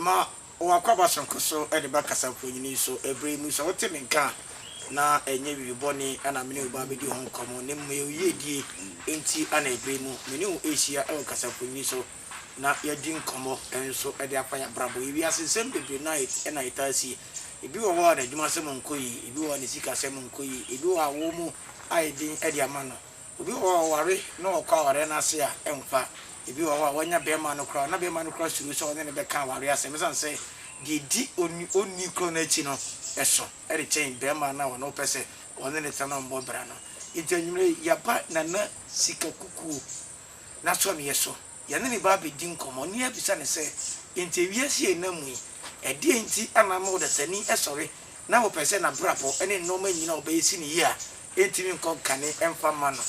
Ma w'akwaba soronko so de ba kasamfonin yi so bere yi mu. Sɛ wote me nka a, na ɛnyɛ biribi bɔne na me ne wo reba abedi ho nkɔmmɔ, na mmom ɛyɛ wo yiedie nti na bere yi mu me ne wo rehyia wɔ kasamfonin yi so. na yɛadi nkɔmmɔ nso de afa yɛn abrabɔ. Yɛ wiase nsɛm bebree na ɛna ɛtaa si. Ebi wɔ hɔ a n'adwumasɛm nkɔ yie, ebi wɔ hɔ a ne sikasɛm nkɔ yie, ebi wɔ hɔ a awoɔ mu ayɛ den de ama no, obi wɔ hɔ a ɔware na ɔkɔ awareɛ no ase a ɛmfa, ebi wɔ hɔ a wanya bɛrima no koraa na bɛrima no koraa suro sɛ ɔne no bɛka awareɛ asɛm ɛsiane sɛ deɛ ɛdi onii korɔ no akyi no so de kyɛn bɛrima no a ɔno wopɛ sɛ ɔne no tena na ɔmmɔ bra no. Enti anwummerɛ yi yɛaba Nana Sika Kukuo. n'asɔreɛ so. Yɛne ne ba abɛdi nkɔmmɔ ne abisa no sɛ, Enti wiase a yɛnam mu yi, ɛdeɛn nti na ama ɔdasani sɔre na wopɛ sɛ n'abrabɔ ne nnoɔma nyina a ɔbɛyɛ si no yie a ɛntumi nkɔ nkane mfa mma no?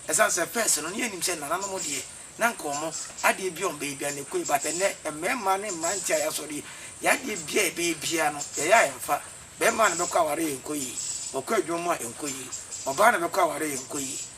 Ɛsiane sɛ pɛs no, ne yɛnim sɛ nananom deɛ na nka wɔn adeɛ biara a wɔbɛyɛ biara no ɛkɔ yie but ɛnnɛ mmarima ne mmeranteɛ a yɛasɔre yi, yɛn adeɛ biara a yɛbɛyɛ biara no yɛyɛ a ɛmfa. Barima na bɛkɔ aware a ɛnkɔ yie, ɔkɔ adwuma mu a ɛnkɔ yie, ɔbaa na bɛkɔ aware a ɛnkɔ yie.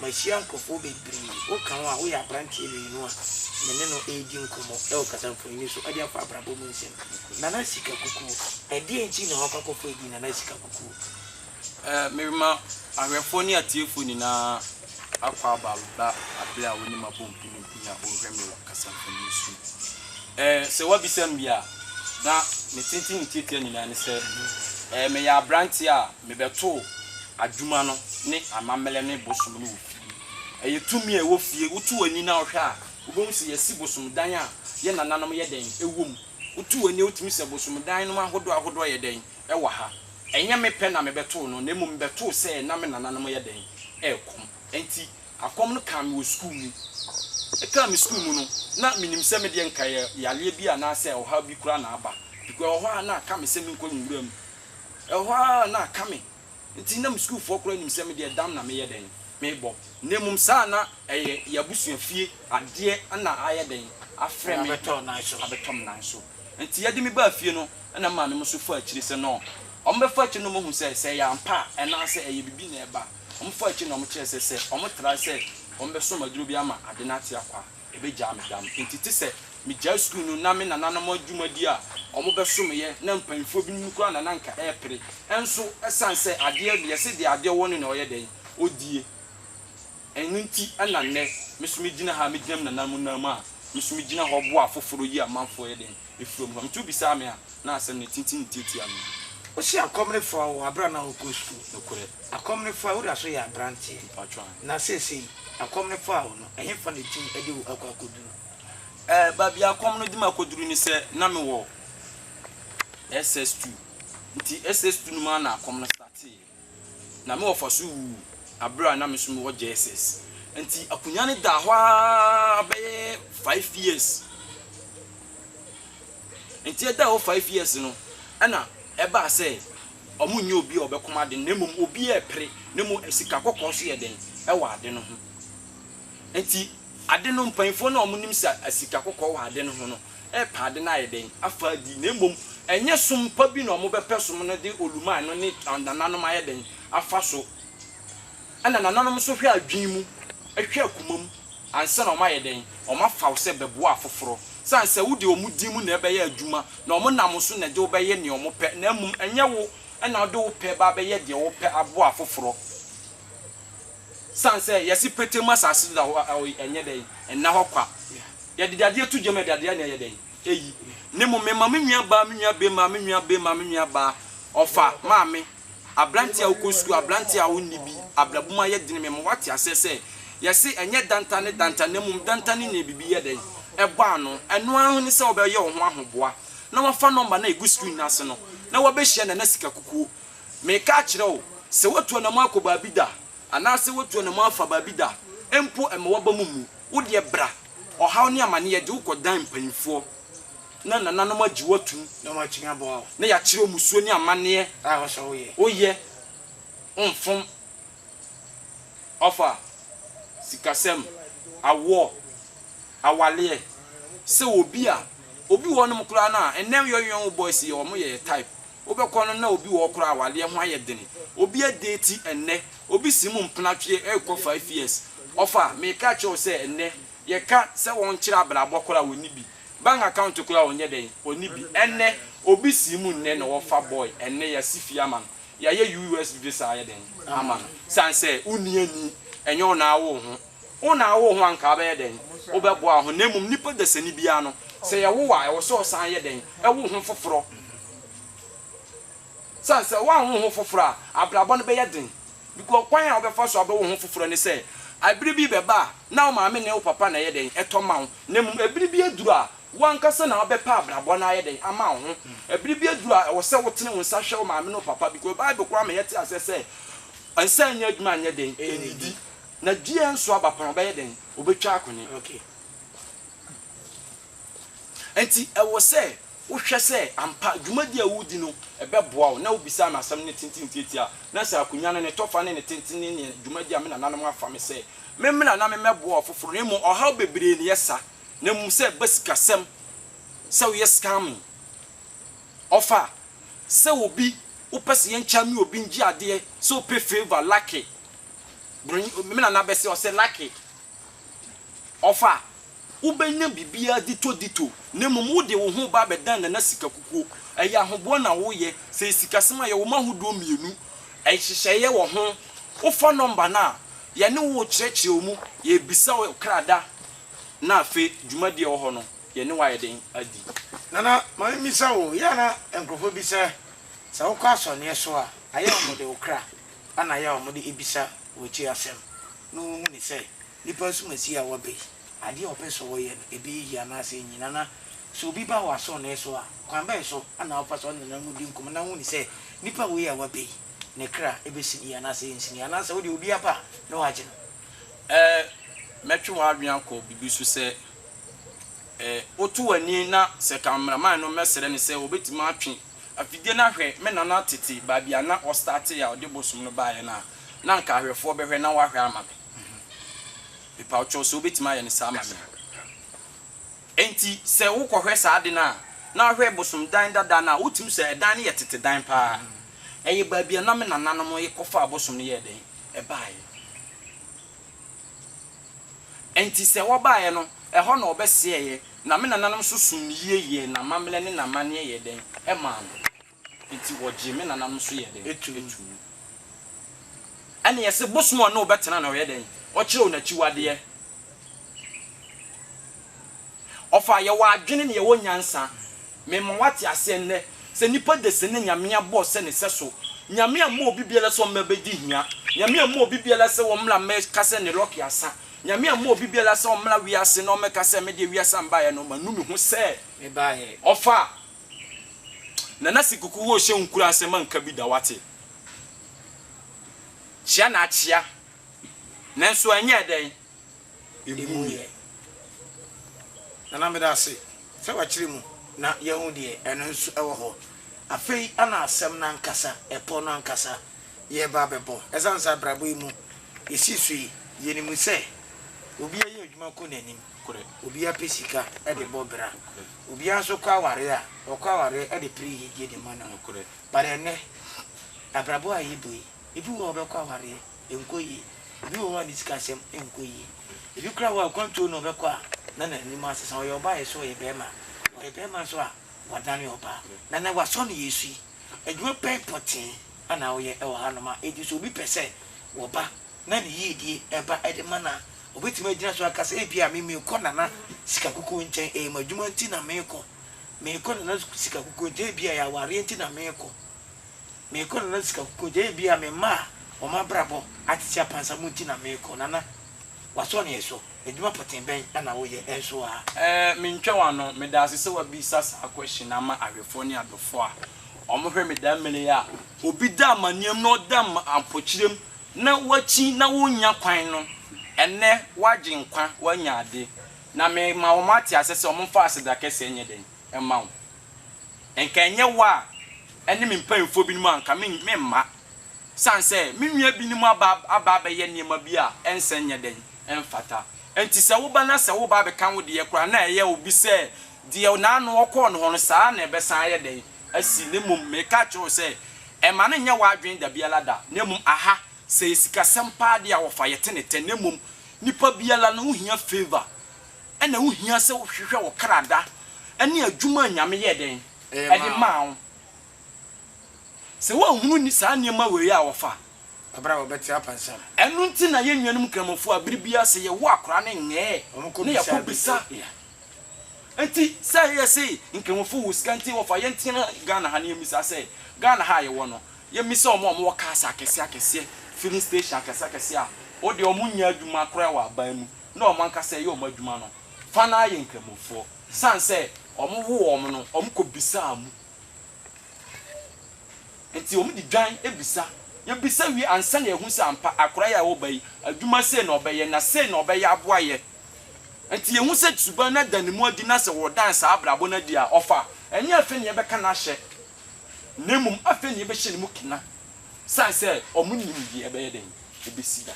Mahyia nkurɔfoɔ bebree. Woka wo a, woyɛ aberanteɛ mmienu a me ne no redi nkɔmmɔ wɔ kasamfonin so de afa abrabɔ mu nsɛm. Nana Sika Kukuo, Ɛdeɛn nti na woakɔ akɔfa edin Nana Sika Kukuo? Merema ahwɛfoɔ ne atiefoɔ nyinaa akwaaba ba berɛ a wo ne m'abɔ mpenimpen a worehwɛ me wɔ kasamfonin so yi. Sɛ woabisa me bi a, na me tenten ne tiatia nyinaa ne sɛ, meyɛ aberanteɛ a Mebɛtoo adwuma no ne amammerɛ ne bosom no wɔ fie. Ɛyɛ tumi a ɛwɔ fie. Woto w'ani na wohwɛ a, wobɛhu sɛ yɛasi bosom dan a yɛn nananom yɛ dɛn wɔ mu. Woto w'ani a, wotumi hu sɛ bosom dan nom ahodoɔ ahodoɔ yɛ dɛn wɔ ha. Ɛnyɛ me pɛ na mebɛtoo no, na mmom mebɛtoo sɛ na me nananom yɛ dɛn rekɔm. Ɛnti, akɔm no kaa me wɔ sukuu mu. Ɛkaa me sukuu mu no, na menim sɛ medeɛ nka ɛyɛ yareɛ bi anaasɛ ɔhaw bi koraa na aba, because ɛwɔ hɔ a na aka me sɛ menkɔ nwura mu Ɛhɔ ara na aka me. Enti na me sukuufoɔ koraa nim sɛ me deɛ dam na meyɛ dɛn? Merebɔ. Na mmom saa na ɛyɛ yɛn abusua fie adeɛ na ayɛ dɛn? Afrɛ me abɛtɔ me nan so. Enti yɛde me baa fie no na me maame nso faa akyire sɛ no. Wɔbɛfa akyire no na wɔahu sɛ sɛ ɛyɛ ampa a anaa sɛ ɛyɛ biribi na ɛreba. Wɔfaa akyire na wɔkyerɛɛ sɛ sɛ wɔtra sɛ wɔbɛsɔ me aduro bi ama ade no ate akɔ a, Ebegyaa me dam. Enti te sɛ migyae sukuu no na me nananom adwumadi a wɔbɛsomeyɛ na mpanyimfoɔ binom no koraa na na anka ɛrepere. Nso ɛsan sɛ adeɛ deɛ sɛdeɛ adeɛ wɔ no na ɔyɛ dɛn? Ɔdie. Ɛno nti na nnɛ me nso megyina ha a megyina me nananom nan mu a me nso megyina hɔ boa afoforo yi amanfoɔ yɛ dɛn? afuom hɔ. Nti wobisaa me a, na asɛm no tintim nti atia me. Wose akɔm no faa wo bere a na worekɔ sukuu. Nokorɛ. Akɔm no faa wo da so yɛ aberanteɛ. Mpacho aane. Na seesei akɔm no faa wo no, ɛhefa na ɛtumi de wo akɔ akɔduru? Eh, baabi a akɔm no de me akɔduru ne sɛ na mewɔ SS2. Nti SS2 no mu ara na akɔm no starteeɛ. na me wɔfa so wuu bere a na me nso mewɔ JSS. Enti akonnwa no daa hɔ ara bɛyɛ five years. Enti ɛdaa hɔ five years no, ɛna ɛbaa sɛ wɔnyɛ obi a ɔbɛkɔm ade no, na mmom obi a ɛpere, na mmom sika kɔkɔɔ so yɛ den wɔ ade no ho. Enti ade no, mpanyimfoɔ no a wɔnim sika kɔkɔɔ wɔ ade no ho no, repɛ ade no ayɛ dɛn afa adi, na mmom ɛnyɛ som pa bi na wɔbɛpɛ som no de oluman ɛno ne nananom ayɛ dɛn afa so. Ɛna nananom nso hwɛ adwene mu, ɛhwɛ akoma mu ansa na wɔayɛ dɛn wɔafaw sɛ bɛboa afoforɔ. Sane sɛ wode wɔn din mu na ɛbɛyɛ adwuma na wɔn nam so na ɛde wo bɛyɛ nea wɔpɛ, na mmom ɛnyɛ wo na wode wo pɛ ba bɛyɛ deɛ wɔpɛ aboa afoforɔ. Esiane sɛ yɛse petee mu asase so da hɔ a, ɛwɔ ɛnyɛ dɛn? Ɛnna hɔ kwa. Yɛde dadeɛ to gya mu a, dadeɛ na ɛyɛ dɛn? Ɛyi. Na mmom me maame nua baa, me nua bee, maame nua bee, maame nua baa, ɔfa, maame, aberanteɛ a wokɔ sukuu, aberanteɛ a wonni bi, abrabum ayɛ dene. Mema woate aseɛ sɛ, yɛse ɛnyɛ danta ne danta, na mmom danta ne nea biribi yɛ dɛn? Ɛbɔ ano. Ɛno ara ho ne sɛ wobɛyɛ wo ho ahoboa na woafa nɔmba no a ɛgu screen no ase no na woabɛhyia nana sikakukuo. Mereka akyerɛ wo, sɛ woatu anammɔn akɔ baabi da, anaasɛ woatu anammɔn afa baabi da mpo a, mma w'abam mmu. Wo deɛ bra, ɔhaw ne amane, yɛgye wo kɔ dan mpanimfoɔ, na nananom agye wo atom, na wɔatumi aboa wo. Na yɛakyerɛ wo mmusuo ne amanneɛ a ɛwɔ sɛ woyɛ. Woyɛ, womfom ɔfa, sikasɛm, awoɔ, awaleɛ, sɛ obi a, obi wɔ hɔnom koraa no a, nnɛ yɔnwɛn wo boys yi wɔyɛ yɛ type. Wobɛkɔ no na obi wɔ hɔ koraa awareɛ ho ayɛ den obi adeti ɛnnɛ obi si mu mpena twe rekɔ five years ɔfa meka kyerɛ wo sɛ ɛnnɛ yɛka sɛ wɔnkyerɛ abrabɔ koraa ɔnni bi bank account koraa ɔnyɛ dɛn ɔnni bi ɛnnɛ obi si mu nnɛ na wɔfa boy ɛnnɛ yɛasi fie ama no yɛayɛ US visa ayɛ dɛn ama no sane sɛ wonni ani ɛnyɛ wo na awo wo ho. Wo na awo ho anka wobɛyɛ dɛn? Wobɛboa ho na mmom nipa dasani biara no sɛ yɛwo wo a ɛwɔ sɛ ɔsan yɛ dɛn? Ɛwo ho foforɔ. Sane sɛ woanwo ho foforɔ a abrabɔ no bɛyɛ den because kwan a wobɛfa so abɛwo ho foforɔ ne sɛ ɛbere bi bɛba a na wo maame ne wo papa na ɛyɛ dɛn? Ɛtɔ ma wo na mmom ɛbere bi aduru a wo ankasa na wobɛpɛ abrabɔ no ayɛ dɛn? Ama wo ho. Ɛbere bi aduru a ɛwɔ sɛ wotene wo nsa hwɛ wo maame ne wo papa because Bible koraa ma yɛte aseɛ sɛ nsa nnya adwuma nyɛ dɛn? Nnidi. Na dua nso aba pɛn a, ɔbɛyɛ dɛn? Ɔbɛtwa akone. Okay. Ɛnti ɛwɔ sɛ wohwɛ sɛ ampa dwumadi a woredi no ɛbɛboa wo, na wobisa no asɛm no tenten tiatia, na sɛ akonwa no ne tɔfa ne ne tenten ne neɛ dwumadi a me nananom afa me sɛ me mmra na me mmɛboa ɔfoforo, na mmom ɔhaw bebree na ɛyɛ sa, na mmom sɛ ɛba sikasɛm, sɛ woyɛ scamming, ɔfa, sɛ obi wopɛ sɛ yɛnkyame obi ngye adeɛ, sɛ wopɛ favour, lucky. Broni o, me nana bɛse, ɔse lucky off a, wobɛnya biribiara ditɔ ditɔ, na mmom wode wo ho ba abɛdan nana sika kukuo. Ɛyɛ ahoboa na woyɛ, sɛ ɛyɛ sikasɛm a, yɛwɔ mu ahodoɔ mmienu, nhyehyɛeɛ wɔ ho, wofa nɔmba no a, yɛne wo rekyerɛkyerɛ wo mu, yɛrebisa wo krada, na afei dwumadie a ɛwɔ hɔ no, yɛne wo ayɛ dɛn adi. Nana, ma memmisa wo, yɛ a na nkurɔfoɔ bi sɛ, sɛ wokɔ asɔneɛ so a, ayɛ a wɔde wo kra? Ana yɛ a wɔde abisa w'akyi asɛm na wɔhu ne sɛ nipa nsumasie a waba yi, adeɛ a ɔpɛ sɛ ɔyɛ no, ɛbɛyɛ yie anaasɛ ɛnyɛ yie? Nana, sɛ obi ba wɔ asɔɔnee so a, kwan bɛn so na wopɛ sɛ ɔne nana no di nkɔmmɔ na wohu ne sɛ nipa wei a waba yi, ne kra bɛsini yie anaasɛ ɛnsini yie? Anaasɛ wodeɛ obi aba a na woagye no? Ɛɛ, mɛtwe w'adwene akɔ biribi so sɛ, ɛɛ, woto w'ani na sɛ cameraman no mmɛsrɛ no sɛ ɔbɛtumi atwe Afidie no ahwɛ me nana tete baabi a na ɔstartee a ɔde bosom no baeɛ no a na anka ahwɛfoɔ bɛhwɛ na wahwɛ ama me. Mepa wo kyɛw sɛ wobɛtumi ayɛ no saa ama me a. Enti sɛ wo kɔhwɛ saa ade no a na wahwɛ bosom dan dada no a wotumi sɛ ɛdan no yɛ tete dan paa. Ɛyɛ baabi a na me nananom kɔfaa bosom no yɛɛ dɛn? Ɛbaeɛ. Enti sɛ wɔbaeɛ no, ɛhɔ na wɔbɛsɛeɛ, na me nananom nso somm me yie yɛɛ n'amammerɛ ne n'amanneɛ yɛɛ dɛn? Ɛmaa no. Enti wɔgyee me nananom nso yɛɛ dɛn? Ɛtuu mu. Ɛnna yɛse bosom a na ɔbɛtena na ɔyɛ dɛn? Ɔkyerɛw n'akyiwadeɛ. Ɔfa, yɛwɔ adwene na yɛwɔ nyansa. Mema woate aseɛ nnɛ sɛ nnipa de sene Nyame abɔ sɛ ne sɛso. Nyame amma obi biara sɛ ɔmmra bɛdi hia. Nyame amma obi biara sɛ ɔmmra mmɛka sɛ ne lɔke asa. Nyame amma obi biara sɛ ɔmmra wiase na ɔmmɛka sɛ medeɛ wiase a mbaeɛ no manu me ho sɛ mebaeɛ. Ɔfa, Nana Sekuku wo hyɛ nkuran sɛ manka bi da woate? Kyea na akyea nanso ɛnyɛɛ dɛn? emu yɛ. Nana meda ase sɛ wakyerɛ mu na yɛahu deɛ ɛno nso ɛwɔ hɔ. Afei na asɛm no ankasa, ɛpɔ no ankasa, yɛreba abɛbɔ. Ɛsiane sɛ abrabɔ yi mu yɛsi so yi, yɛnim sɛ obiara yɛ adwuma kɔ n'anim, obiara pɛ sika de bɔ bra, obiara nso kɔ awareɛ a, ɔkɔ awareɛ de pere yiyedie de ma ne ho. But ɛnnɛ, abrabɔ a yɛbɔ yi, Ebi wɔ hɔ a ɔbɛkɔ awareɛ, ɛnkɔ yie. Ebi wɔ hɔ a ne sikasɛm nkɔ yie. Ebi koraa wɔ hɔ a akwantuo na ɔbɛkɔ a na n'anim asesa. Ɔyɛ ɔbaa yɛ so ɔyɛ barima. Ɔyɛ barima nso a wadane ɔbaa. Na na wasɔ no yɛ su yi. Adwuma bɛn pɔtee a na woyɛ wɔ hanom a enti sɛ obi pɛ sɛ wɔba na ne yiedie ba de ma no a, ɔbɛtumi agyina so aka sɛ ebia me merekɔ Nana Sikakuku nkyɛn, ɛyɛ m'adwuma nti na merekɔ. Merekɔ Nana Sikakuku nkyɛn, ebia ɛyɛ awareɛ nti na merekɔ. Merekɔ Nana sika kogye ebia me mma a wɔn abrabɔ atete apansam nti na merekɔ Nana w'asɔ neɛ so adwuma pɔtee bɛn na woyɛ nso aa? Ɛɛ mentwa w'ano, medaase sɛ w'abisa saa question no ama awɛfoɔ ne adɔfoɔ a wɔn hwɛ me da mmere yi a obi da amaneɛm na ɔda mpokyerɛm na wakyin na wonnya kwan no ɛnnɛ wagye nkwa wanya ade na me ma wɔn ate aseɛ sɛ wɔn mfa aseda kɛseɛ nyɛ dɛn mma wo. Nka ɛnyɛ wo a ɛne me mpanyimfoɔ binom a, anka meremma. Ɛsiane sɛ me nua binom aba aba abɛyɛ nneɛma bi a ɛnsɛ nyɛ dɛn? Ɛmfata. Enti sɛ woba na sɛ woreba abɛka wo deɛ koraa na ɛyɛ obi sɛ deɛ n'ano ɔkɔɔ no hɔ no, saa ara na ɛbɛsan ayɛ dɛn? Asi. Na mmom mereka akyerɛ wo sɛ, mma no nnyɛ w'adwene da biara da. Na mmom aha, sɛ ɛyɛ sikasɛm paa deɛ a, wɔfa yɛ te ne tɛ. Na mmom nipa biara no, wohia favour. Ɛna ɛho hia sɛ wohwehwɛ wo kra da ne adwuma a Nyame yɛɛ dɛn? Ɛde maa wo. Sɛ woanhunu saa nneɛma wei a wɔfa kɔbere a wɔbɛte apansa no. Ɛno nti na yɛn nuanom Kramofo a bere biara sɛ yɛwo akora no nyɛɛ na yɛkɔ bisa. Nti sɛ yɛse Nkramofo wo sika nti wɔfa yɛn tena Ghana ha no yɛmmisa sɛ Ghana ha a yɛwɔ no yɛmmisa wɔn a wɔwɔ cars akɛseɛ akɛseɛ filling station akɛseɛ akɛseɛ a wodeɛ wɔn nyɛ adwuma koraa wɔ aban mu na wɔn ankasa ɛyɛ wɔn adwuma no fa no ara yɛ Nkramofoɔ. Ɛsiane sɛ wɔwoo wɔn no, wɔkɔbisaa mu. Enti wɔde dwan bisa. Yɛbisa wie ansa na yɛahu sɛ ampa akwadaa yi a ɛwɔ ba yi, adwuma sei na ɔbɛyɛ, na sei na ɔbɛyɛ aboa yɛ. Enti yɛhu sɛ suban no ada ne mu adi na sɛ wɔdan saa abrabɔ no adi a, ɔfa a, ɛnyɛ afei na yɛbɛka no ahyɛ, na mmom afei na yɛbɛhyɛ no mu kena. Ɛsiane sɛ wɔnnim deɛ ɛbɛyɛ dɛn, ɛbɛsi da.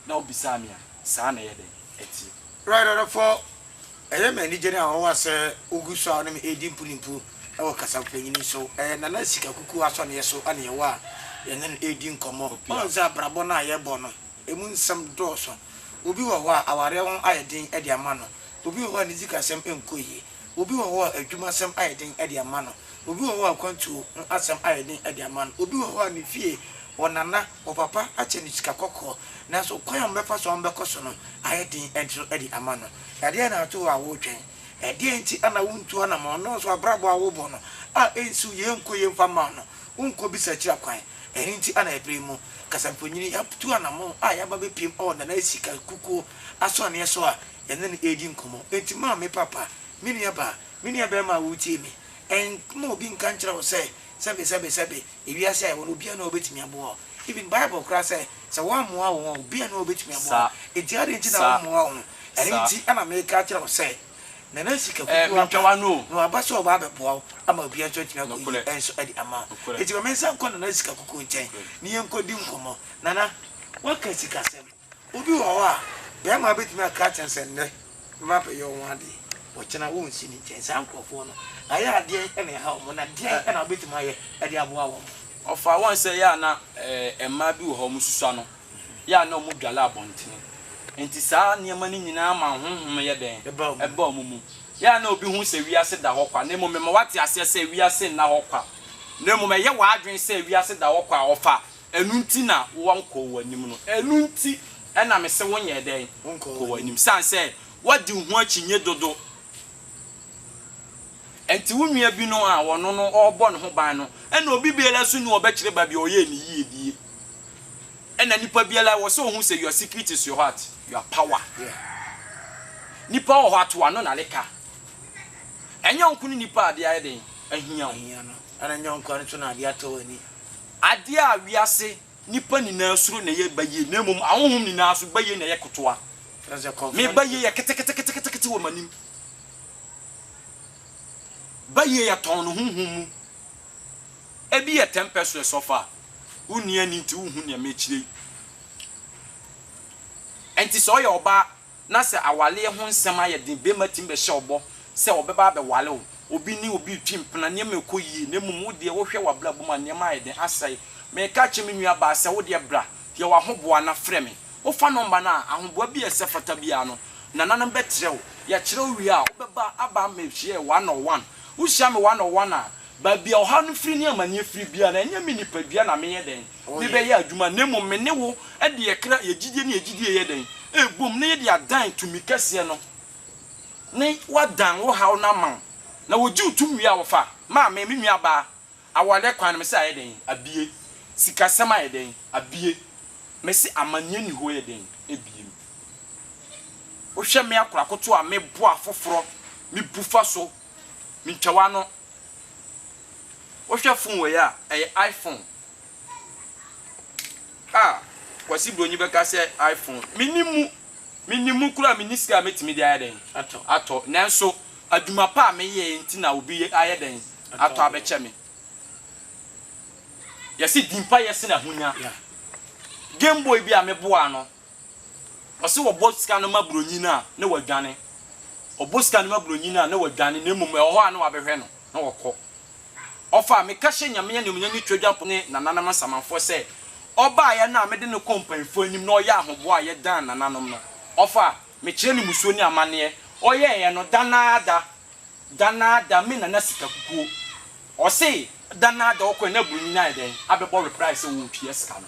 na wobisaa me a, saa na ɛyɛ dɛn? Ɛteɛ. Right adɔfo, ɛyɛ me anigye ne awowa sɛ wugu so a wo ne me redi mpunimpu wɔ kasapanyin so. Ɛyɛ Nana Sika Kuku asɔneɛ so na yɛwɔ a yɛne no redi nkɔmmɔ. Woahu sɛ abrabɔ no a yɛrebɔ no, emu nsɛm dɔɔso. Obi wɔ hɔ a, awareɛ ho ayɛ den de ama no. Obi wɔ hɔ a, ne sikasɛm nkɔ yie. Obi wɔ hɔ a, adwumasɛm ayɛ den de ama no. Obi wɔ hɔ a, akwantuo ho asɛm ayɛ den de ama no. Obi wɔ hɔ a, ne fie, ɔnana. Ɔpapa akyɛ no sika kɔkɔɔ, nanso kwan a wɔbɛfa so a wɔbɛkɔ so no ayɛ den nso de ama no. Ɛdeɛn na ato hɔ a woretwɛn? Ɛdeɛn nti na wontu anammɔn na nso abrabɔ a wobɔ no a ɛnsiw yei nkɔ yie mfa mma wo no, wonkɔbisa akyiri akwan? Ɛno nti na ɛberɛ yi mu kasamfonin yi atu anammɔn a yɛaba abɛpiem wɔ Nana Asi Kasakukuo asɔneɛ so a yɛne no redi nkɔmmɔ. Enti ma me papa, me nuabaa, me nuabarima a woretie me, mma obi nka nkyerɛ wo sɛ, Sɛbe, sɛbe, sɛbe. Ewiase a yɛwɔ no obiara nni hɔ a obetumi aboa wo. Even Bible koraa sɛ, sɛ wɔammoa wo a, obiara nni hɔ a obetumi aboa wo. Enti adɛn nti na wɔmmoa wo ho? Ɛno nti na mereka akyerɛ wo sɛ, Nana Sika Kuku aba, na waba sɛ ɔreba abɛboa wo ama obiara nso atumi akoyi nso de ama wo. Enti ma mensan nkɔ Nana Sika Kuku nkyɛn na yɛnkɔdi nkɔmmɔ. Nana, woaka sikasɛm. Obi wɔ hɔ a, bɛrima bɛtumi aka akyerɛ no sɛ nnɛ me ba bɛyɛ wo ho adeɛ, ɔkyena wonsi ne nkyɛn. Saa nkorɔfoɔ no, ayɛ a deɛn na ɛhaw wɔn, na deɛn na wobɛtumi ayɛ de aboa wɔn? Ɔfaa wɔn sɛ yɛ a na mmaa bi wɔ hɔ a wɔsusua no, yɛ a na wɔdwale abɔntene, enti saa nneɛma no nyinaa ma ahonhom yɛ dɛn? Ɛba wɔn mu. Yɛ a na obi hu sɛ wiase da hɔ kwa, na mmom mema woate aseɛ sɛ wiase nna hɔ kwa, na mmom ɛyɛ w'adwene sɛ wiase da hɔ kwa a, ɔfa Ɛno nti na wɔnkɔɔ w'anim no. Ɛno nti na mese wonyɛ dɛn? Nkɔɔ w'anim. Esiane sɛ woadi wo ho akyinnye dodo nti, wo nua bi no a ɔno no ɔrebɔ ne ho ban no, ɛnna obi biara nso nni hɔ a ɔbɛkyerɛ baabi a ɔyɛɛ no yie die. Ɛnna nipa biara, ɛwɔ sɛ ohu sɛ your secret is your what? Your power. Nipa wɔ hɔ a, to ano na ne ka. Ɛnyɛ wo nko ne nipa a adeɛ ayɛ dɛn? Ahia wo. Ɛnna ɛnyɛ wo nko ara nso na adeɛ atɔ w'ani. Adeɛ a wiase nnipa nyinaa suro na ɛyɛ bayie, na mmom ahonhom nyinaa nso, bayie na ɛyɛ ketewa. Me bayie yɛ keteketekete wɔ m'anim. Bayie yɛ tɔnn no honhom mu. Ebi yɛ ten peseres ɔfa a, wonni ani nti wonhu nea merekyerɛ yi. Enti sɛ ɔyɛ ɔbaa na sɛ awareɛ ho nsɛm ayɛ den, barima tumi bɛhyɛ wo bɔ sɛ ɔbɛba abɛware wo, obi ne obi retwi mpena, nneɛma rekɔ yie, na mmom wo deɛ wohwɛ w'abrabɔ mu a, nneɛma ayɛ den, asɛe. Mereka akyerɛ me nuabaa sɛ, wo deɛ bra, yɛ w'ahoboa na frɛ me. Wofa nɔmba no a, ahoboa bi a ɛsɛ fata biara no, nananom bɛkyerɛ wo. Yɛkyerɛ wo wie a, wobɛba aba ammɛhyia yɛn one on one. Wohyia me one on one a, baabi a ɔhaw no firi ne amaneɛ firi biara no, ɛnyɛ me nipadua na meyɛ dɛn? me bɛ yɛ adwuma na mmom me ne wo de yɛ kra, yɛ gyidie ne yɛ gyidie yɛ dɛn? ɛrebom na yɛ de adan tumi kɛseɛ no ne wa dan wo haw no ama wo na wɔ gye wo tum wie a wɔ fa ma me me nua baa aware kwan no me se ayɛ dɛn abie sika sɛm ayɛ dɛn abie me se amaneɛ ni hɔ yɛ dɛn abie me wo hwɛ me akora koto a me boa foforɔ me bu fa so. Mentwa w'ano. Wohwɛ fon wei a, ɛyɛ ifon a Kwasi Bronyi bɛka sɛ ifon. Mennim mu, mennim mu koraa, menni sika a mɛtumi de ayɛ dɛn? Atɔ. Atɔ. Nanso adwuma pa a meyɛeɛ nti na obi ayɛ dɛn? Atɔ abɛkyɛ me. Yɛse di mpayɛ sene ahonya. Game boy bi a meboaa no, Ɔse wɔbɔ sika no ma broni no a ne wadwane. Ɔbɔ sika no ma broni no a ne wadwane na mmom ɛwɔ hɔ a ne wabɛhwɛ no na ɔkɔ. Ɔfa a meka hyɛ Nyame animuonyam ne Twadwamfo ne Nananom Nsamanfoɔ sɛ ɔbaeɛ no a mede no kɔɔ mpanyinfoɔ anim na ɔyɛɛ ahoboa a yɛdan Nananom no. Ɔfa a mekyerɛ no musuo ne amaneɛ ɔyɛeɛ no da no ara da da no ara da me Nana sika kukuo. Ɔse da no ara da ɔkɔɛ na broni no ayɛ dɛn abɛbɔ reply sɛ ɔɔtua sika no.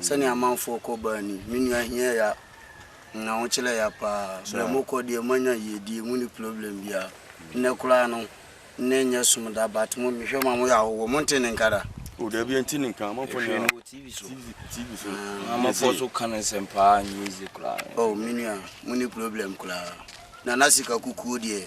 Sɛnea amanfoɔ kɔ baa ni. Me nua hiɛ ya na wo kyerɛ ya paa berɛ mo kɔ deɛ mo anya yiedie mo ni problem biaa nnɛ koraa no nnɛ nyɛ som da but mo me hwɛ ma mo yɛ ahohoɔ mo nte ne nka da. Oh dabi ɛnte ne nka amanfoɔ nyinaa. Ɛhwɛ no wɔ TV so. TV so. Na amanfoɔ so ka ne nsɛm paa nyɛ easy koraa. Oh me nua mo ni problem koraa. Nana sika kukuo deɛ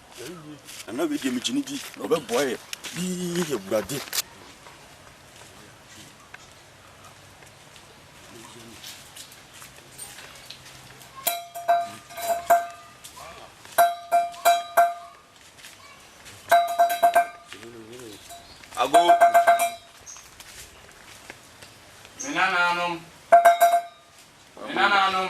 Nana wei deɛ megye ne di na ɔbɛboa yɛ bii awurade. Ago me nananom me nananom.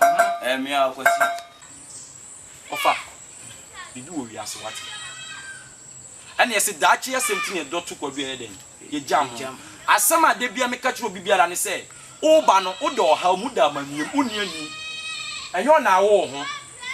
Ɛyɛ me ara Kwasi. Ɔfa, biribi wɔ wiase wate. Ɛna yɛse daakye asɛm nti na ɛdɔ to Kwadu ɛyɛ dɛn? Yɛgya ho. Asɛm a da biara meka kyerɛ obi biara ne sɛ, woba no woda ɔhaw mu, woda amaneɛ mu, wonni ani. Ɛnyɛ wo na awo wo ho.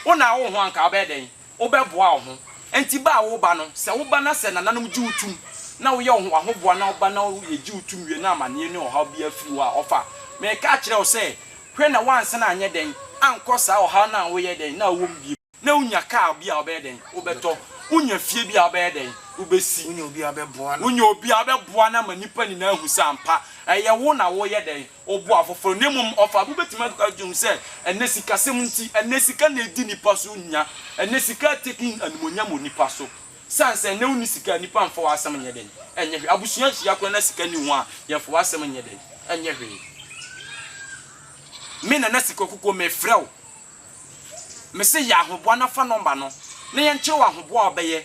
Wo na awo wo ho a anka wobɛyɛ dɛn? Wobɛboa wo ho nti ba a woreba no, sɛ woba na sɛ nananom gye wo tom na woyɛ wo ho w'ahoboa na woba na yɛgye wo tom wie na amanneɛ ne ɔhaw biara firi hɔ a, ɔfa. Mereka akyerɛ wo sɛ, hwɛ na woansan anyɛ dɛn ankɔ saa ɔhaw no a woyɛ dɛn na wowɔ mu bio. Na wonya kaa bi a wobɛyɛ dɛn? Wobɛtɔ. Wonya fie bi a wobɛyɛ dɛn? Wobɛsi. Wonya obi a wobɛboa no. Wonya obi a wobɛboa no ama nnipa nyinaa ahu sɛ ampa, ɛyɛ wo na woreyɛ dɛn? ɔboa afoforo, na mmom ɔfaa bo betumi akeka dwom sɛ, Ɛnnɛ sikasɛm nti, ɛnnɛ sika na edi nnipa so nya, ɛnnɛ sika atake animuonyam wɔ nnipa so. Esiane sɛ ɛnnɛ wonni sika a, nnipa mfa w'asɛm nyɛ dɛn nyɛ hwee. Abusua hyia koraa na sika nni ho a, yɛmfa w'asɛm nyɛ dɛn nyɛ hwee. Me Nana Sika Kukuo, mefrɛ wo. Mese yɛ ahoboa na fa nɔmba no na yɛnkyerɛ wo ahoboa a wobɛyɛ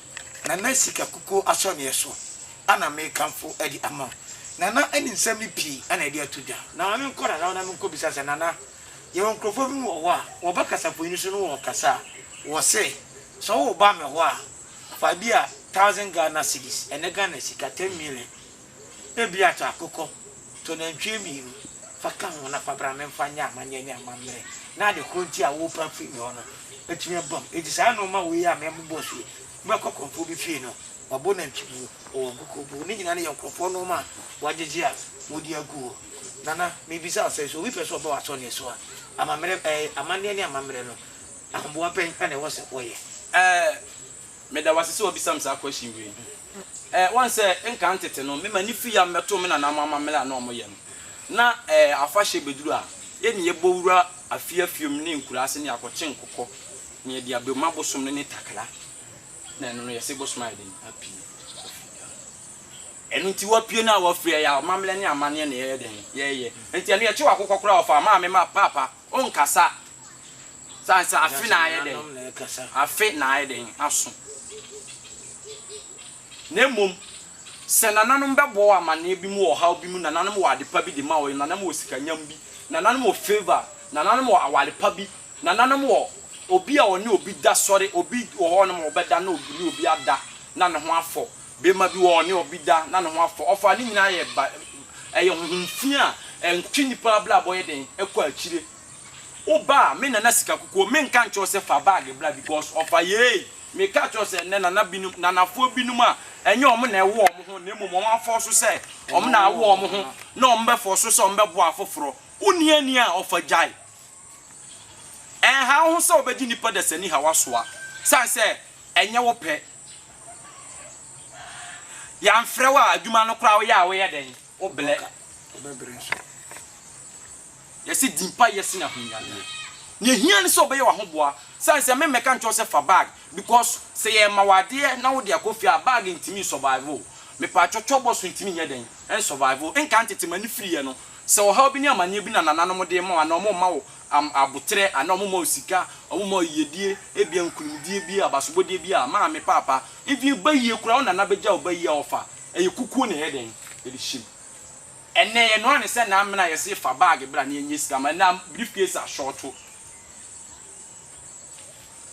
Na na sika kukuo asɔneɛ so a na mekamfo de ama Nana ne nsɛm no pii a na yɛde ato dwa. Na ma menkɔ Nana hɔ na menkɔbisa sɛ, Nana, yɛwɔ nkurɔfoɔ binom wɔ hɔ a, wɔba kasafonin so na wɔkasa a, wɔse, sɛ woba me hɔ a, fa ebia thousand Ghana cedis, ɛnnɛ Ghana sika, ten million, Ebia tɔ akokɔ, tɔ nantwie mmienu fa ka ho na fa bra memfa nyɛ amanneɛ ne amammerɛ na ade korɔ nti a worepɛ afiri me hɔ no atumi aba mu. Enti saa nnoɔma wei a mɛbobɔ so yi, mobɛkɔ korɔmfoɔ bi fie no, wabɔ nantwibuo, ɔwɔ nkokobuo, ne nyinaa no yɛ nkorɔfoɔ nnoɔma a wɔagyegye a wɔde agu hɔ. Nana, merebisa wo sɛ, sɛ obi pɛ sɛ ɔba w'asɔneɛ so a, amammerɛ, ɛɛ, amanneɛ ne amammerɛ no, ahoboa bɛn na ɛwɔ sɛ ɔyɛ? Ɛɛ. Meda wo ase sɛ wabisa me saa question wei. Eh, woahu sɛ nkan tete no, me ma ne firi a mebɛto me nananom amammerɛ a na wɔyɛ no. Na eh, afahyɛ bɛduru a, yɛn ne yɛbɔ wura afie afie mu ne nkuraa ase ne yɛakɔkye nkokɔ, na yɛde abam. Ma bosom no ne takra. Na ɛno no, yɛse bosom ayɛ den, apue, wafiri Ghana. Ɛno nti wapue no a wafiri, ɛyɛ amammerɛ ne amanneɛ na yɛyɛ dɛn? Yɛyɛ. Nti ɛno yɛkye w'akokɔ koraa a ɔfaa maame ma paapa Ɔnkasa. Sane sɛ afe na ayɛ dɛn? Afe na ayɛ dɛn? Aso. Na mmom, sɛ nananom bɛbɔ wo amanneɛ bi mu wɔ ɔhaw bi mu, nananom wɔ ade pa bi de ma wo, nananom wɔ sikanyam bi, nananom wɔ favour, nananom wɔ aware pa bi, nananom wɔ obi a ɔne obi da sɔre, obi wɔ hɔnom a ɔbɛda na ɔne obi ada na ne ho afɔ. Bema bi wɔ hɔ, ɔne ɔbi da na ne ho afɔ. Ɔfaa ne nyinaa yɛ ba. Ɛyɛ honhom fi a ɛtwe nipa abrabɔ yɛ dɛn ɛkɔ akyire. Wo ba a, me nana sika kukuo, me nka nkyerɛ wo sɛ fa bag bra because ɔfa yei. Me ka kyerɛ wo sɛ ɛnnɛ nana binom, nanafoɔ binom a ɛnyɛ wɔn na ɛwo wɔn ho na mmom wɔn afɔɔso sɛ wɔn na awo wɔn ho na wɔn bɛfɔɔso sɛ wɔn bɛboa afoforɔ. Wo nni ani a, ɔfa gyae. Ɛnha wo ho sɛ wobɛgye nnipa dasani haw asoa sane sɛ ɛnyɛ wo pɛ. Yɛamfrɛ wo a, adwuma no koraa woyɛ a woyɛ dɛn? Wobrɛ. Yɛse di mpaeɛ sene ahonyadeɛ. Nea ehia ne sɛ wobɛyɛ w'ahoboa sane sɛ memmɛka nkyerɛ wo sɛ fa bag because sɛ yɛma wo adeɛ na wode akɔ fie a bag ntumi nsurvive wo. Mepaakyɔ twɔbɔ so ntumi nyɛ dɛn? Nsurvive wo. Nka ntete m'ani firiiɛ no Sɛ ɔhaw bi ne amanneɛ bi na nananom de rema wo anaa wɔrema wo aboterɛ anaa wɔrema wo sika, wɔrema wo yiyedie, ebia nkunimdie bi, abasobɔdeɛ bi a, maame, paapa, even bayie koraa, wo nana bɛgya wo bayie a ɔfa. Ɛyɛ kukuo na ɛyɛ dɛn? Ɛde hyem. Ɛnnɛ, yɛnoa no sɛ namena a yɛse fa baage bra na yɛnyɛ sika ma, ɛnam briefcase a shorto.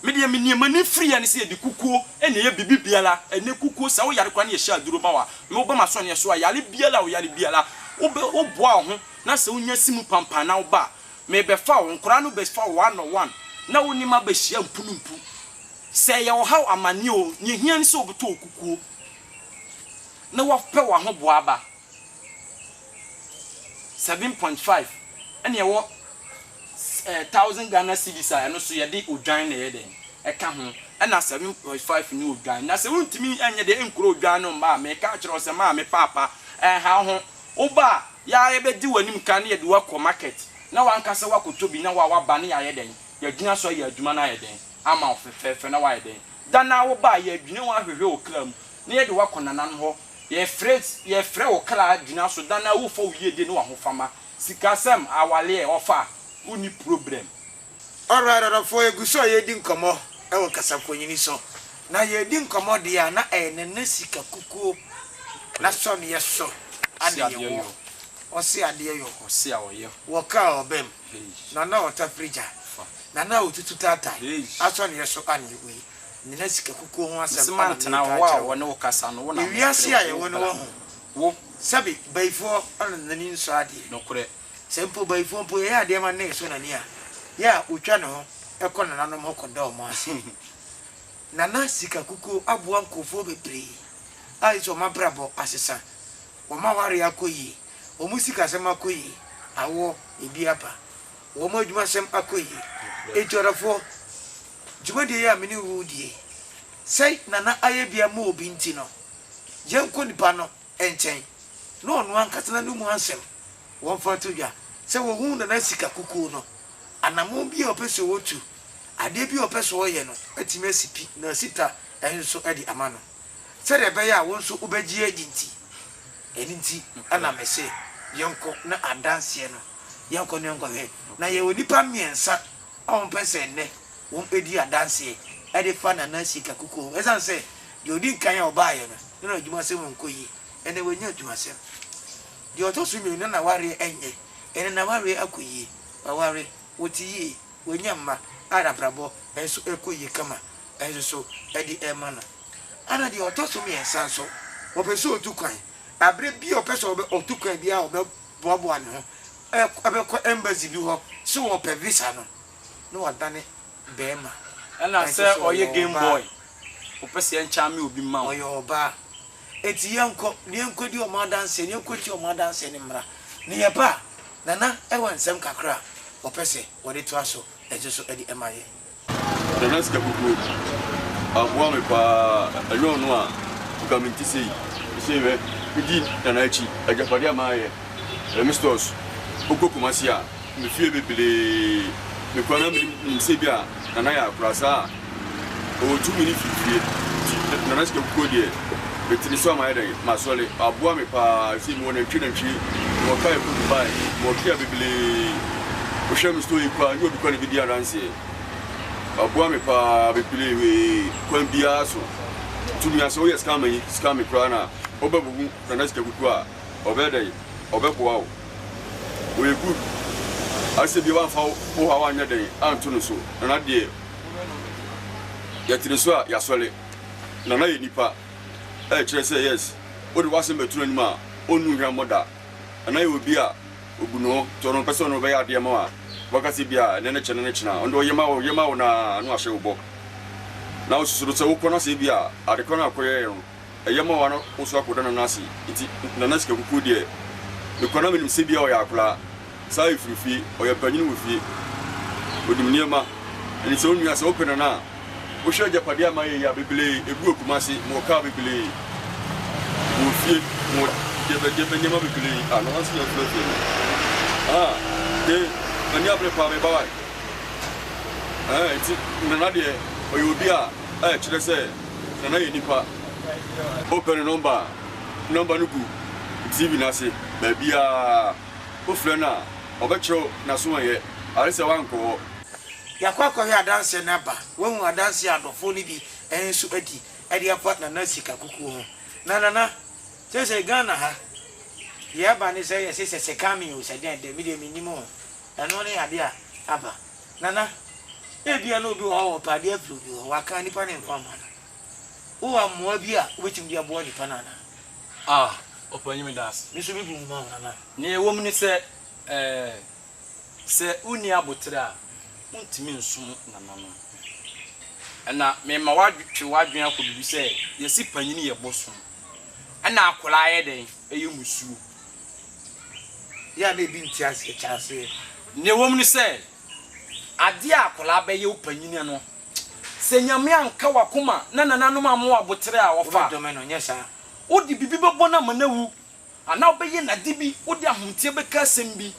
Me deɛ me nneɛma no firi yɛ ne sɛ yɛde kukuo na ɛyɛ biribi biara ɛnɛ kukuo sɛ woyare koraa ne yɛhyɛ aduro ma wo a me woba m'asɔneɛ so a yare biara a woyare biara wobɛ woboa wo ho na sɛ wonya si mu pampan na woba a me bɛfa wo nkoraa no bɛ fa wo one on one na wo ne m'aba hyia mpu no mpu sɛ ɛyɛ ɔhaw amaneɛ o neɛ ɛhia ne sɛ wobɛtɔ wo kukuo na wapɛ wo aho boa aba seven point five ɛne ɛwɔ eh, thousand Ghana cedis a ɛno so yɛde odwan na ɛyɛ dɛn ɛka ho ɛna seven point five ne odwan na sɛ wontumi ɛnyɛ deɛ ɛnkura odwan no mma a meka akyerɛ wo sɛ maame paapa ɛnha wo ho woba a yɛa yɛbɛdi w'anim kan ne yɛde wo akɔ market na w'ankasa woakɔtɔ bi na wo a woaba ne yɛayɛ dɛn yɛagyina so ayɛ adwuma no ayɛ dɛn ama wo fɛfɛɛfɛ na woayɛ dɛn da no a woba a yɛadwina wo ahwehwɛ wo kra mu na yɛde woakɔ nananom hɔ yɛfrɛ yɛfrɛ wo kra gyina so da no a wofa wo yiedie ne w'ahofama Sikasɛm awaleɛ ɔfa wo nni problem. Alright adɔfoɔ yɛ gu so a yɛredi nkɔmmɔ wɔ kasafonini so na yɛredi nkɔmmɔ deɛ a na ɛyɛ nana sika kukuo na sɔneɛ so ade yɛ wɔ ɔse adeɛ yɔ wɔ car ɔbɛ mu nana ɔta prigya nana ɔtutu taatae asɔneɛ so ane wei nana sika kukuo ho asɛm ane meeka akyerɛ wo ewiase a yɛwɔ no wɔ ho. Wo, sɛbe, bayifoɔ na n'ani nsɔ adeɛ. Nokorɛ, sɛ mpo bayifoɔ mpo yɛyɛ adeɛ ma ne so n'ani a, yɛ a wɔtwa ne ho kɔ nananom hɔ kɔda wɔn ase. Nana sika kukuo aboa nkorɔfoɔ bebree a ɛsi wɔn abrabɔ asesa, wɔn awareɛ akɔ yie, wɔn sikasɛm akɔ yie, awoɔ, ebi aba, wɔn adwumasɛm akɔ yie. Enti ɔdɔfoɔ, dwumadie yi a me ne wo redie yi, sɛ Nana ayɛ bi ama obi nti no, yɛnkɔ nipa no nkyɛn na ɔno ankasa n'ano mu asɛm wɔmfa nto dwa sɛ wɔhuu Nana Sika kukuo no. Anammɔn bi a ɔpɛ sɛ ɔtu, adeɛ bi a ɔpɛ sɛ ɔyɛ no atumi asi pi. Na Sita nso de ama no sɛdeɛ ɛbɛyɛ a wo nso wobɛgye adi nti. Ɛno nti na mese yɛnkɔ na adanseɛ no yɛnkɔ na yɛnkɔhwɛ. Na yɛwɔ nnipa mmiɛnsa Ɔmpɛ sɛ nnɛ wɔdi adanseɛ de fa Nana Sika Kuku ho ɛsiane sɛ deɛ ɔdi nkan a ɔbaeɛ no na na adwumasɛm nkɔ yie, ɛnnɛ wanya adwumasɛm. Deɛ ɔtɔ so mmienu na n'awareɛ ɛnyɛ, ɛnnɛ n'awareɛ akɔ yie, waware, ɔte yie, wanya mma a n'abrabɔ nso ɛkɔ yie kama nso so de rema no. Ɛna deɛ ɔtɔ so mmiɛnsa nso, ɔpɛ sɛ ɔtu kwan, aberɛ biara ɔpɛ sɛ ɔtu kwan biara ɔbɛ. boaboa ne ho bɛkɔ embassy bi hɔ sɛ ɔrepɛ visa no, na wadane barima. Ɛna sɛ ɔyɛ game boy, ɔpɛ sɛ yɛnkyame obi mma wo. Ɔyɛ ɔbaa. Enti yɛnkɔ na yɛnkɔdi wɔn adanseɛ, na yɛnkɔtie wɔn adanseɛ no mmra. Na yɛba a, Nana wɔ nsɛm kakra a ɔpɛ sɛ ɔde toa so nso so de ma yɛn. Ɔde na sika kukuo mu. Aboa me paa ɛnyɛ ɔno a nka me nte sei. Sesei hwɛ me di Nana akyi agyapadeɛ a mayɛ ɛyɛ me stores wo kɔ Kumasi a me fie bebree me kura na me nim sɛ bi a Nana yɛ akora saa a ɔwɔ tumi ne firi fie nti Nana sika kukuo deɛ me te ne so a mayɛ dɛn ma sɔre aboa me paa sesei me wɔ nantwie nantwie me wɔ car ɛkɔ Dubai me wɔ Kia bebree. Wohwɛ me story koraa nyɛ obi koraa na ɛbɛdi adanseɛ. Waboa me paa bebree wee kwan biara so. Nti mia sɛ woyɛ scam yi scam me koraa na wobɛbubu Nana Sika Kuku a ɔbɛyɛ dɛn ɔbɛboa wo. Ɔyɛ good asɛ bia wamfa wo haw anyɛ dɛn anto no so. Nana deɛ yɛte ne so a yasɔre. Nana yɛ nipa ɛkyerɛ sɛ yes wode w'asɛm bɛto n'anim a ɔnnu hwammɔ da. Ɛno yɛ obi a obu ne ho tɔ no ɔpɛ sɛ ɔne wo bɛyɛ adeɛ ma wo a waka sɛ bia ɛnɛ ne kyɛne ne kyena a ɔno deɛ ɔyɛ ma wo yɛ ma wo no ara na wahyɛ wo bɔ na wosusu no sɛ wokɔ no sɛ bia adekɔ no a wokɔyɛɛ no ɛyɛ ma wo a na wo so akɔda nana ase nti nana sika kukuo deɛ mekɔ na menim sɛ bia ɔyɛ akoraa Sae firi fie, ɔyɛ panyin wɔ fie, onim nneɛma, ɛne sɛ onua sɛ wopɛ no no a wohwɛ agyapadeɛ a mayɛ yi a bebree egu akuma ase, mewɔ car bebree, mewɔ fie, mewɔ gyɛbɛ gyɛbɛ nneɛma bebree a na wansi yɛn fɛfɛ no ah de mani abere paa meba wae eh nti nana deɛ ɔyɛ obi a eh kyerɛ sɛ nana yɛ nipa wopɛ no nɔmba a nɔmba no gu TV no ase baabiara. Wofrɛ no a, ɔbɛkyerɛ wo n'asoɔeɛ, are sɛ woankɔ hɔ. Yɛakɔ akɔhwɛ adanseɛ no aba. Woahu adanseɛ a adɔfoɔ no bi nso adi de afa Nana sika kukuo ho? Na Nana, seesei Ghana ha, deɛ aba ne sɛ yɛse sɛ sekan me o, sɛ dɛn dɛn, medeɛ mennim o. Ɛno ne adeɛ a aba. Nana, ebia na obi wɔ hɔ a ɔpɛ adeɛ afiri obi hɔ, wakan nipa ne nkwa mma no. Wowɔ mmoa bi a wobɛtumi de aboa nnipa no anaa? Ah, ɔpanyin, meda ase. Me nso me gu nwoma ho nana. Nea ɛwɔ mu ne sɛ, eh, sɛ wonni aboterɛ a, wontumi nsom nana no. Ɛna mema woatwe w'adwene akɔ biribi sɛ, yɛse panyin yɛ bosom, ɛna akwadaa yɛ dɛn? Ɛyɛ mmusuo. Yɛ a na ebi nte aseɛ, kyɛ aseɛ. Nea ɛwɔ mu ne sɛ. Adeɛ a akwadaa bɛyɛ wo panyin no, sɛ Nyame anka w'akoma na nananom amma wo aboterɛ a wɔfa a, wode biribi bɛbɔ no ama no awu, anaa wobɛyɛ no ade bi, wode ahoteɛ bɛka asɛm bi.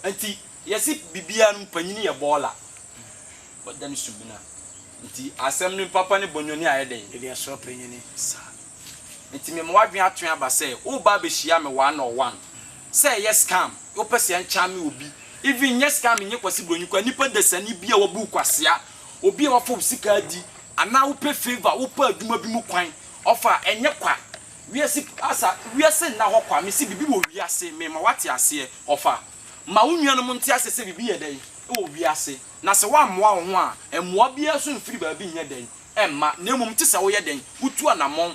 Nti yɛse biribiara no panyin yɛ bɔɔla, wada ne sumina. Nti asɛm no papa ne bɔnyɔni ayɛ dɛn? Ɛde asɔ panyin. Saa. Nti mema w'adwene atwe aba sɛ woreba abɛhyia me one on one. Sɛ ɛyɛ scam wopɛ sɛ ɛnkyame obi even nyɛ scam nyɛ kwasi broni koraa nipa dasani bi a wabu kwasea obi a wafa wo sika adi anaa wopɛ favour wopɛ adwuma bi mu kwan ɔfa a ɛnyɛ kwa wiase asa wiase nna hɔ kwa mese biribi wɔ wiase me ma wate aseɛ ɔfa ma wo nuanom nte aseɛ sɛ biribi yɛ dɛn wɔ wiase na sɛ woammoa wo ho a mmoa biara nso mfiri baabi nyɛ dɛn ɛmma na mmom te sɛ woyɛ dɛn wotu anamɔn.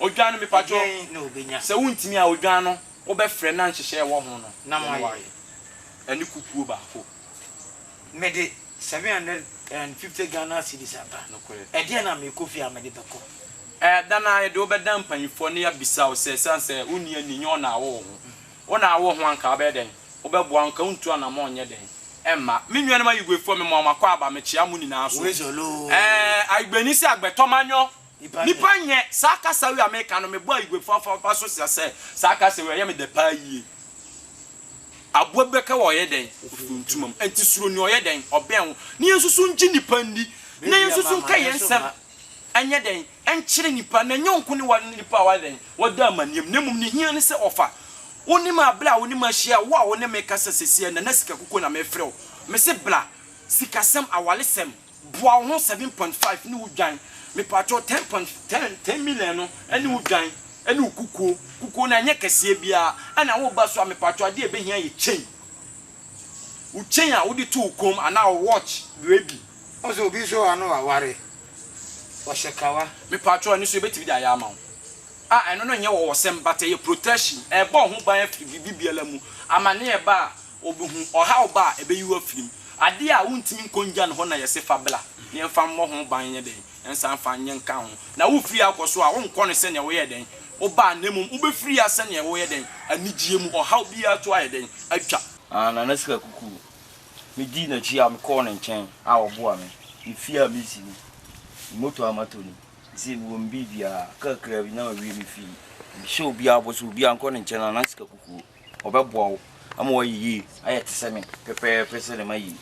Odwan no mepakyɛw. Ɛdeɛn na ɔbɛnya? Sɛ wontumi a, odwan no wobɛfrɛ na nhyehyɛɛ ɛwɔ ho no Na yɛne wo moayɛ. ayɛ. Ɛne kukuo baako. Mede 750 Ghana cedis aba. Nokorɛ. Ɛdeɛn na merekɔ fie a mede bɛkɔ? Ɛda no ara yɛde wo bɛda mpaninfoɔ na yɛabisa wo sɛ ɛsiane sɛ wonni ani nyɛ wo na awo wo ho. Wo na awo wo ho anka wobɛyɛ dɛn? Wobɛboa anka wontu anamɔn nyɛ dɛn? Ɛmma. Me nuanom Ayiguefoɔ memoa mo akɔ aba mekyea mo nyinaa so. Wei zɔloo. Ɛɛ Ayigueni sɛ agbɛtɔ manyɔ Nipa nyɛ saa kasa wei a meka no mebɔ ayiguefo afɔpa so sɛ sɛ saa kasa wei ɛyɛ me dɛ paa yie. Aboa bi bɛka wɔ ɔyɛ dɛn ɔfiri ntoma mu ɛnti suro nea ɔyɛ dɛn ɔbɛn wo na yɛn nso so ngye nipa nni na yɛn nso so nka yɛn nsɛm ɛnyɛ dɛn ɛnkyere nipa na ɛnyɛ nko ne wa ne nipa a wayɛ dɛn wada amaneɛ mu na mmom ne hia ne sɛ ɔfa wo ne me a bla wo ne me ahyia wo a wo ne me kasa sɛsiɛ nana sika kukuo na mefrɛ wo mese bla sikasɛm awalesɛm Boa wo ho seven point five ne wo dwan mepakyɛw ten point ten ten million no ne wo dwan ne wo kukuo kukuo no ɛnyɛ kɛseɛ biara ɛna wo ba so a mepakyɛw adeɛ a ɛbɛhia yɛ chain wo chain a wode to wo kɔn mu anaa wo watch due bi. Ɔsɛ obi nso wɔ ha no waware ɔhyɛ kawa. Mepakyɛw ɛno nso yɛbɛtumi de ayɛ ama wo a ɛno no nyɛ ɔwɔsɛm but ɛyɛ protection ɛbɔ wo ho ban afiri biribi biara mu amaneɛ ba a Obehu ɔhaw ba a, ebeyi wo afiri mu. Ade a wuntumi nkɔ nngya no hɔ na yɛse fa bra, na yɛmfa mmɔ ho ban nyɛ dɛn? Yɛnsan mfa nyɛ nka ho. Na wufiri ha kɔ so a, wonkɔ no sɛnea woyɛɛ dɛn? Wobaa, na mmom wobefiri ha sɛnea woyɛ dɛn? Anigyeɛ mu. Ɔhaw biara to ayɛ dɛn? Atwa. Ah, Nana Sika Kuku. Medii n'akyi a, mekɔɔ ne nkyɛn a ɔboaa me. Me fie a mesi ni. Me motor a matɔ ni. Seesei mewɔ me biribiara. Kakraa bi na mawie me fie. Mehyɛ obiara bɔ sɛ obiara nkɔ ne nkyɛn, Nana Sika Kuku. ɔbɛboa wo ama woayɛ yie ayɛ te sɛ me pɛpɛɛpɛ sɛdeɛ mayɛ yi.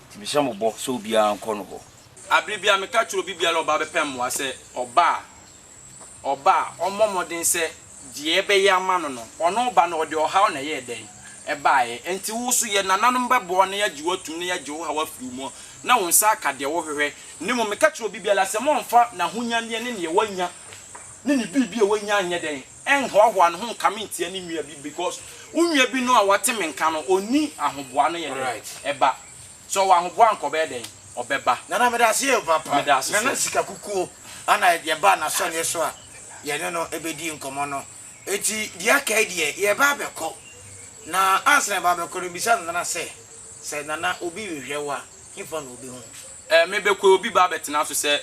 Nti mehyɛ mo bɔ sɛ obiara nkɔ no hɔ. Abere biara meka kyerɛ obi biara a ɔba bɛpɛ mmoa sɛ ɔba a ɔba a ɔmmɔ mmɔden sɛ deɛ ɛbɛyɛ ama no no ɔno ba no ɔde ɔhaw na ɛyɛɛ dɛn? ɛbaeɛ. Ɛnti wo nso yɛ nananom bɛboa wo na yɛagye wo atum na yɛagye wo haw afiri wo mu na wo nsa aka deɛ wohwehwɛ. Na mmom meka kyerɛ obi biara sɛ mommfa n'ahonyadeɛ ne deɛ wanya ne ne biribi a wanya nyɛ dɛn? Ɛnhoahoa ne ho nkame ntia ne nua bi because wo nua bi no a wate me nka no ɔnni ahoboa no yɛ dɛn ɛba sɛ ɔwɔ ahoboa anka ɔbɛyɛ dɛn ɔbɛba. Nana meda ase yie papa. Meda ase Nana sɛ. sika kukuo ana yɛ baa nasɔneɛ so a yɛ ne no bɛdii nkɔmɔ no nti deɛ aka yi deɛ yɛ ba abɛkɔ na ansa na yɛ ba abɛkɔ no bisa Nana sɛ sɛ Nana obi rehwɛ wo a hefa na ɔbɛhu. Eh, me bɛkɔɛ obi ba abɛtena so sɛ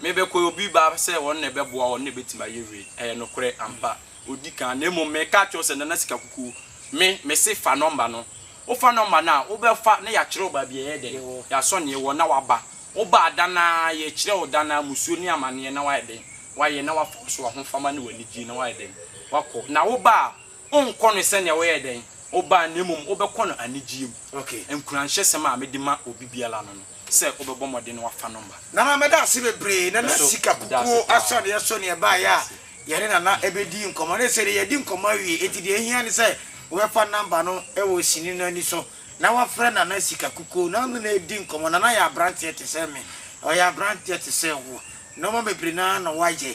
Me bɛkɔɛ obi ba sɛ ɔno na ɛbɛboa ɔno na ɛbɛtumi ayɛ wei Ɛyɛ nokorɛ ampa, ɔdi kan Na mmom mereka akyerɛ wo sɛ Nana Sika Kuku Me, mese fa nɔmba no Wo fa nɔmba no a, wobɛfa na yɛakyerɛ wo baabi a ɛyɛ dɛn Yɛasɔ neɛ ɛwɔ na waba Wo ba a, da no ara yɛkyerɛ wo da no ara Musuo ne amaneɛ na wayɛ dɛn, wayɛ Na wafa wo so ahofama ne w'anigyeɛ na wayɛ dɛn, wakɔ Na wo ba a, Wonkɔ no sɛnea woyɛɛ dɛn? Wobaa na mmom wobɛkɔ no anigyeɛ mu. Nkuranhyɛsɛm a mede ma obi biara no no sɛ wobɛbɔ mmɔden na woafa no ma. Nana meda ase bebree. Nana sika kukuo asɔreɛ so na yɛbaeɛ a yɛne Nana bɛdii nkɔmmɔ. Na ɛsei deɛ yɛadi nkɔmmɔ awie enti deɛ ɛhia ne sɛ wobɛfa number no wɔ sini no ani so na wafrɛ Nana sika kukuo na ɔne no adi nkɔmmɔ. Nana yɛ abranteɛ te sɛ me. Ɔyɛ abranteɛ te sɛ wo. Nnoɔma bebree no ara na wayɛ.